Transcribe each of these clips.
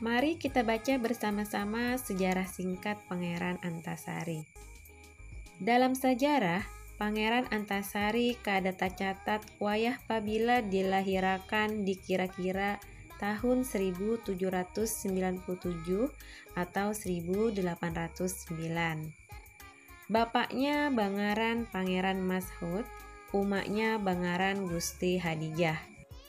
Mari kita baca bersama-sama sejarah singkat Pangeran Antasari. Dalam sejarah, Pangeran Antasari kada tacatat wayah pabila dilahirakan di kira-kira tahun 1797 atau 1809. Bapaknya bangaran Pangeran Mashoud, umaknya bangaran Gusti Hadijah.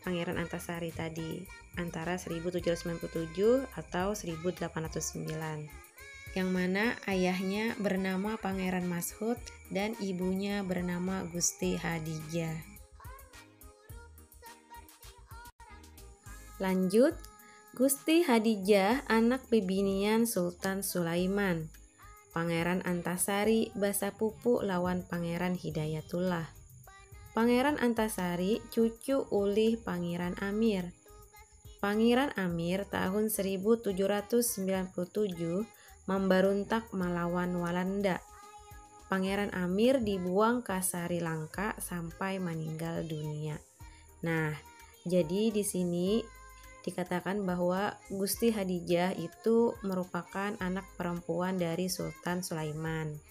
Pangeran Antasari tadi antara 1797 atau 1809 yang mana ayahnya bernama Pangeran Mashud dan ibunya bernama Gusti Hadijah. Lanjut, Gusti Hadijah anak bibinian Sultan Sulaiman. Pangeran Antasari basapupu lawan Pangeran Hidayatullah. Pangeran Antasari cucu ulih Pangeran Amir. Pangeran Amir tahun 1797 mambaruntak malawan Walanda. Pangeran Amir dibuang ka Sari Langka sampai maninggal dunia. Nah, jadi di sini dikatakan bahwa Gusti Hadijah itu merupakan anak perempuan dari Sultan Sulaiman.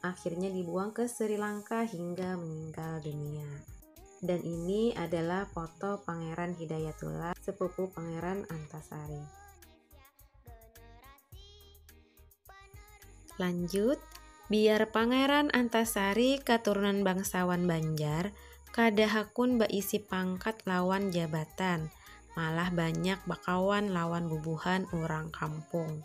akhirnya dibuang ke Sri Lanka hingga meninggal dunia. Dan ini adalah foto Pangeran Hidayatullah, sepupu Pangeran Antasari. Lanjut, biar Pangeran Antasari keturunan bangsawan Banjar, kada hakun baisi pangkat lawan jabatan, malah banyak bakawan lawan bubuhan urang kampung.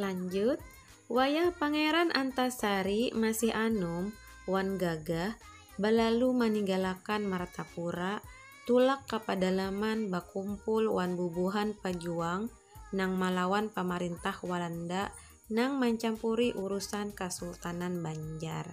Lanjut, wayah Pangeran Antasari masih anum wan gagah balalu maninggalakan Martapura tulak ka padalaman bakumpul wan bubuhan pajuang nang malawan pamarintah Walanda nang mancampuri urusan Kasultanan Banjar.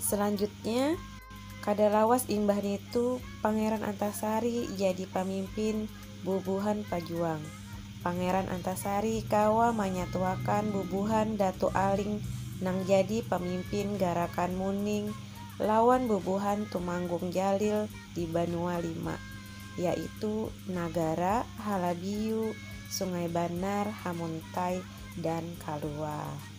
Selanjutnya, kada lawas imbah nitu Pangeran Antasari jadi pamimpin bubuhan pajuang. Pangeran Antasari kawa manyatuakan bubuhan Datu Aling nang jadi pamimpin Garakan Muning lawan bubuhan Tumanggung Jalil di banua lima, yaitu Nagara, Halabiyu, Sungai Banar, Hamuntai, dan Kalua.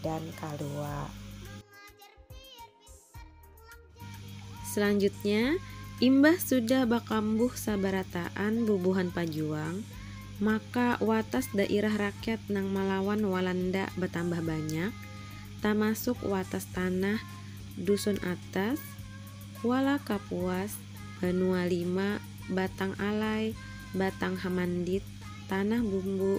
dan kaluwa. Selanjutnya, imbah sudah bakambuh sabarataan bubuhan pajuang, maka watas dairah rakyat nang malawan Walanda batambah banyak, tamasuk watas tanah Dusun Atas, Kuala Kapuas, Banua Lima, Batang Alai, Batang Hamandit, Tanah Bumbu,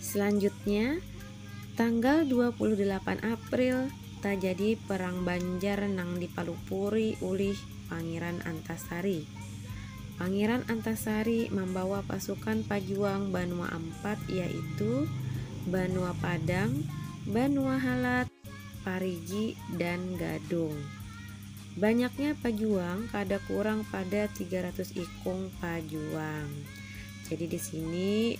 Selanjutnya, tanggal dua puluh dalapan April tajadi Perang Banjar nang dipalupuri ulih Pangeran Antasari. Pangeran Antasari mambawa pasukan pajuang banua ampat yaitu, Banua Padang, Banua Halat, Parigi, dan Gadung. Banyaknya pajuang kada kurang pada tiga ratus ikung pajuang. Jadi di sini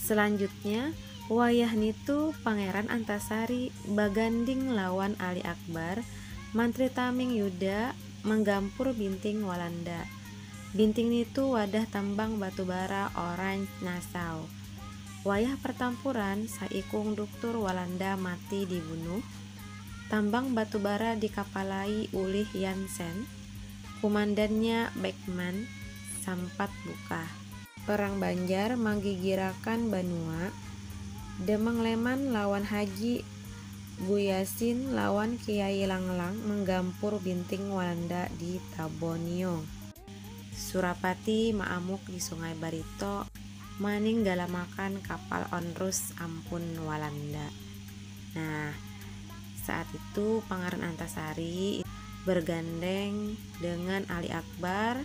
Selanjutnya, wayah nitu Pangeran Antasari baganding lawan Ali Akbar, Mantri Taming Yuda, manggampur Binting Walanda. Binting nitu wadah tambang batubara Orange Nassau. Wayah partampuran, saikung duktur Walanda mati dibunuh, tambang batubara dikapalai ulih Jansen, kumandannya Beckman sampat bukah. Perang Banjar manggigirakan banua, Demang Leman lawan Haji Buyasin lawan Kiai Langlang menggampur binting Walanda di Tabonyong. Surapati maamuk di Sungai Barito maninggalamakan kapal onrus ampun Walanda. Nah, saat itu Pangaran Antasari bergandeng dengan Ali Akbar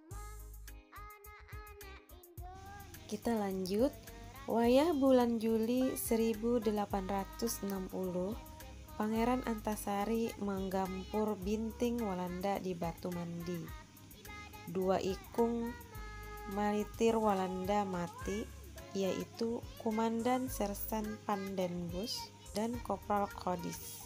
Kita lanjut, wayah bulan Juli 1860, Pangeran Antasari manggampur binting Walanda di Batu Mandi. Dua ikung maritir Walanda mati, yaitu Kumandan Sersan Pandenbus dan Kopral Codice.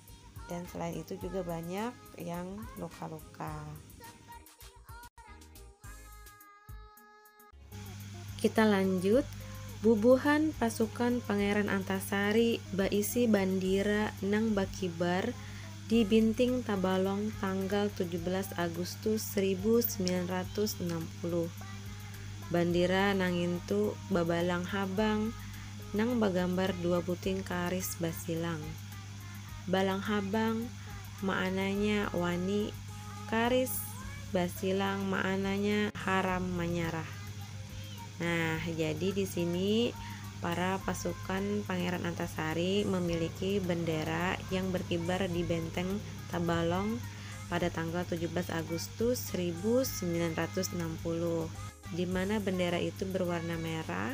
dan selain itu juga banyak yang luka-luka kita lanjut bubuhan pasukan Pangeran Antasari baisi bandira nang bakibar di Binting Tabalong tanggal 17 Agustus 1960. Bandira nangintu babalang habang nang bagambar dua buting karis basilang. Balang habang maananya wani, karis basilang maananya haram manyarah. Nah, jadi di sini para pasukan Pangeran Antasari memiliki bendera yang berkibar di Benteng Tabalong pada tanggal 17 Agustus 1960, di mana bendera itu berwarna merah,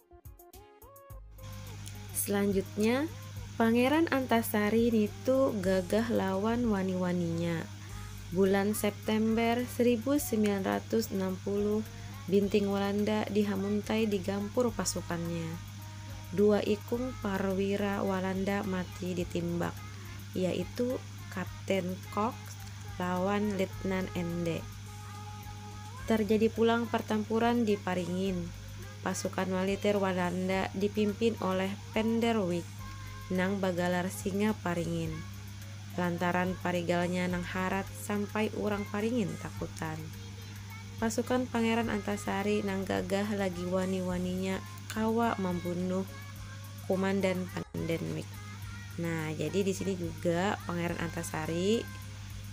Selanjutnya, Pangeran Antasari nitu gagah lawan wani-waninya. Bulan September 1960, Binting Walanda dihamuntai di gampur pasukannya. Dua ikung parwira Walanda mati ditimbak, yaitu Kapten Cox lawan Letnan Ende. Tarjadi pulang partampuran di Paringin. pasukan waliter Walanda dipimpin oleh Penderwick nang bagalar Singa Paringin, lantaran parigalnya nang harat sampai urang Paringin takutan. Pasukan Pangeran Antasari nang gagah lagi wani-waninya kawa mambunuh Kumandan Pendenwick. Nah, jadi di sini juga Pangeran Antasari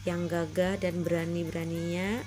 yang gagah dan berani-beraninya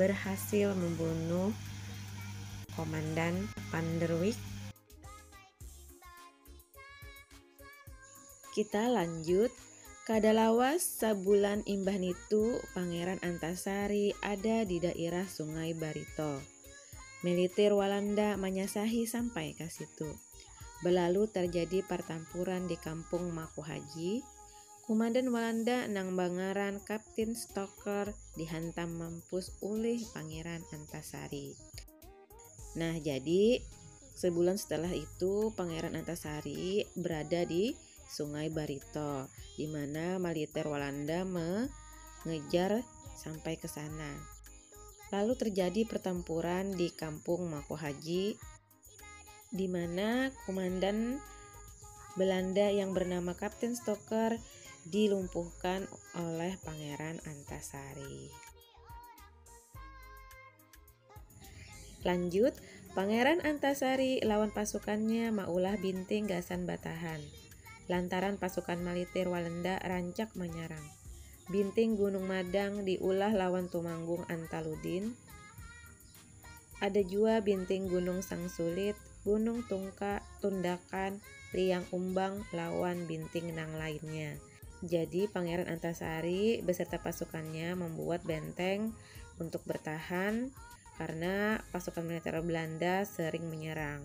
berhasil membunuh Komandan Van der Wijk. Kita lanjut Kada lawas sabulan imbah nitu Pangeran Antasari ada di dairah Sungai Barito. Militir Walanda manyasahi sampai ka situ. Belalu tarjadi partampuran di Kampung Makuhaji, Kumandan Walanda nang bangaran Kaptin Stoker dihantam mampus ulih Pangeran Antasari. Nah, jadi sebulan setelah itu Pangeran Antasari berada di Sungai Barito, di mana militer Walanda mengejar sampai ke sana. Lalu terjadi pertempuran di Kampung Mako Haji, di mana komandan Belanda yang bernama Kapten Stoker dilumpuhkan oleh Pangeran Antasari. Lanjut, Pangeran Antasari lawan pasukannya maulah binting gasan batahan. Lantaran pasukan malitir Walanda rancak menyerang. Binting Gunung Madang diulah lawan Tumanggung Antaludin Ada jua binting Gunung Sangsulit, Gunung Tungka, Tundakan, Liang Umbang, lawan binting nang lainnya. Jadi Pangeran Antasari beserta pasukannya membuat benteng untuk bertahan karena pasukan militer Belanda sering menyerang.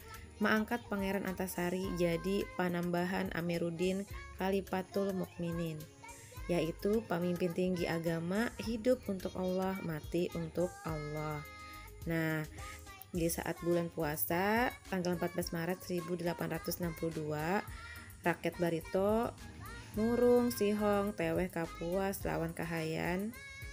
maangkat Pangeran Antasari jadi panambahan Amiruddin Khalifatul Mukminin, yaitu pamimpin tinggi agama, hidup untuk Allah, mati untuk Allah. Nah, di saat bulan puasa tanggal 14 Maret 1862, rakyat Barito murung, sihong, teweh, kapuas, lawan kahayan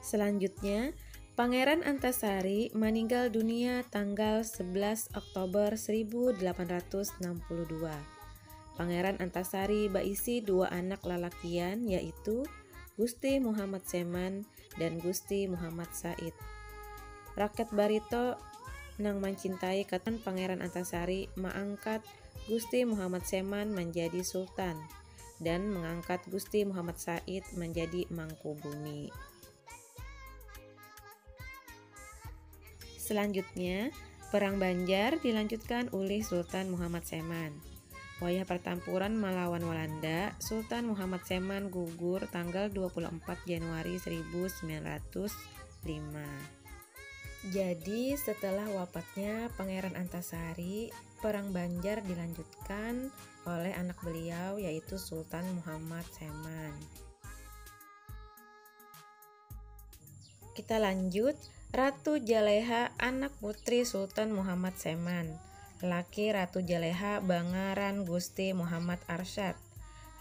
Selanjutnya, Pangeran Antasari maninggal dunia tanggal 11 Oktober 1862. Pangeran Antasari baisi dua anak lalakian yaitu Gusti Muhammad Seman dan Gusti Muhammad Said. Rakyat Barito nang mancintai katan Pangeran Antasari maangkat Gusti Muhammad Seman manjadi Sultan. dan mengangkat Gusti Muhammad Said menjadi Mangkubumi. Selanjutnya, Perang Banjar dilanjutkan oleh Sultan Muhammad Seman. Wayah pertempuran melawan Walanda, Sultan Muhammad Seman gugur tanggal 24 Januari 1905. Jadi setelah wafatnya Pangeran Antasari, Perang Banjar dilanjutkan oleh anak beliau yaitu Sultan Muhammad Seman. Kita lanjut, Ratu Jaleha anak putri Sultan Muhammad Seman. Laki Ratu Jaleha bangaran Gusti Muhammad Arsyad.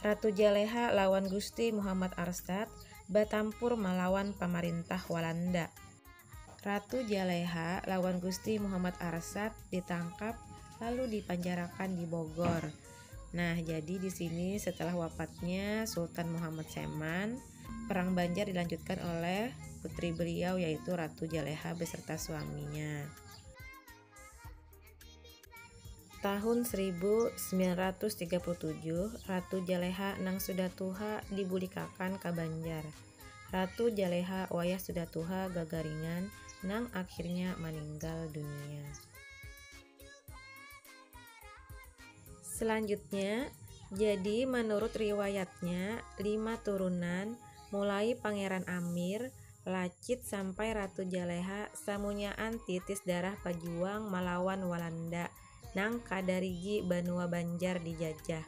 Ratu Jaleha lawan Gusti Muhammad Arsyad batampur malawan pamarintah Walanda. Ratu Jaleha lawan Gusti Muhammad Arsyad ditangkap lalu dipanjarakan di Bogor. Nah, jadi di sini setelah wafatnya Sultan Muhammad Seman, perang Banjar dilanjutkan oleh putri beliau yaitu Ratu Jaleha beserta suaminya. Tahun 1937, Ratu Jaleha nang sudah tuha dibulikakan ka Banjar. Ratu Jaleha wayah sudah tuha gagaringan nang akhirnya maninggal dunia. Selanjutnya, jadi manurut riwayatnya lima turunan, mulai Pangeran Amir, Lacit sampai Ratu Jaleha samunyaan titis darah pajuang malawan Walanda nang kada rigi banua Banjar dijajah.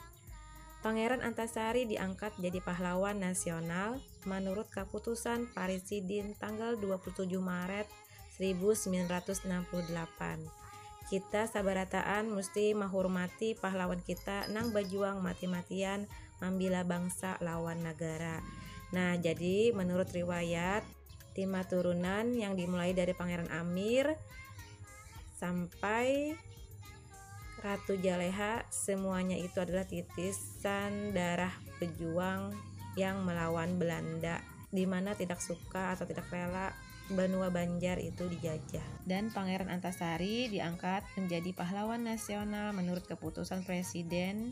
Pangeran Antasari diangkat jadi pahlawan nasional manurut kaputusan Parisidin tanggal dua puluh tujuh Maret saribu samilan ratus anam puluh dalapan. Kita sabarataan musti mahurmati pahlawan kita nang bajuang mati-matian Mambila bangsa lawan nagara. Nah, jadi menurut riwayat lima turunan yang dimulai dari Pangeran Amir sampai Ratu Jaleha semuanya itu adalah titisan darah pejuang yang melawan Belanda di mana tidak suka atau tidak rela benua Banjar itu dijajah. Dan Pangeran Antasari diangkat menjadi pahlawan nasional menurut keputusan Presiden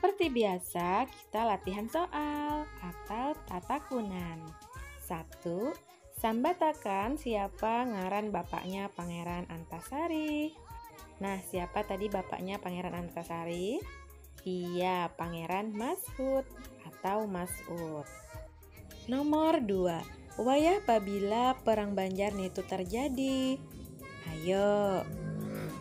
Seperti biasa, kita latihan soal atau tatakunan. Satu, sambatakan siapa ngaran bapaknya Pangeran Antasari. Nah, siapa tadi bapaknya Pangeran Antasari? Iya, Pangeran Mashud atau Mas'ud. Nomor dua, wayah pabila perang Banjar nitu tarjadi? Hayo,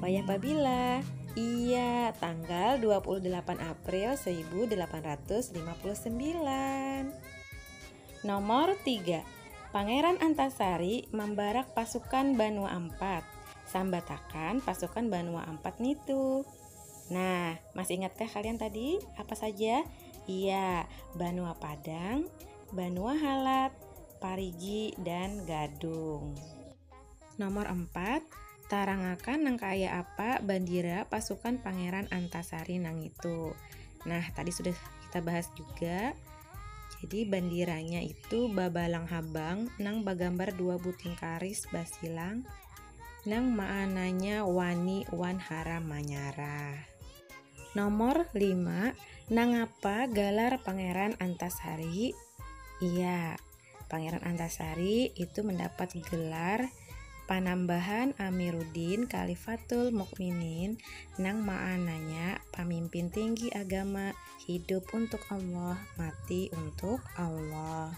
wayah pabila? Iya, tanggal 28 April 1859. Nomor tiga, Pangeran Antasari mambarak pasukan Banua Ampat. Sambatakan pasukan Banua Ampat nitu. Nah, masih ingatkah kalian tadi apa saja? Iya, Banua Padang, Banua Halat, Parigi, dan Gadung. Nomor 4, tarangakan nang kaya apa bandira pasukan Pangeran Antasari nang itu. Nah, tadi sudah kita bahas juga. Jadi bandiranya itu babalang habang nang bagambar dua buting karis basilang nang maananya wani wan haram manyarah. Nomor lima, nangapa galar Pangeran Antasari? Iya, Pangeran Antasari itu mendapat gelar panambahan Amiruddin Khalifatul Mukminin nang maananya pamimpin tinggi agama, hidup untuk Allah, mati untuk Allah.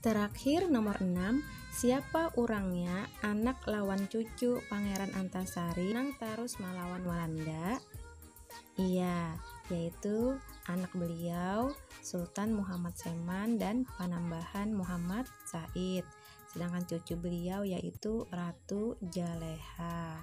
Terakhir nomor enam, siapa urangnya anak lawan cucu Pangeran Antasari nang tarus malawan Walanda? Iya, yaitu anak beliau Sultan Muhammad Seman dan Panambahan Muhammad Said, sedangkan cucu beliau yaitu Ratu Jaleha.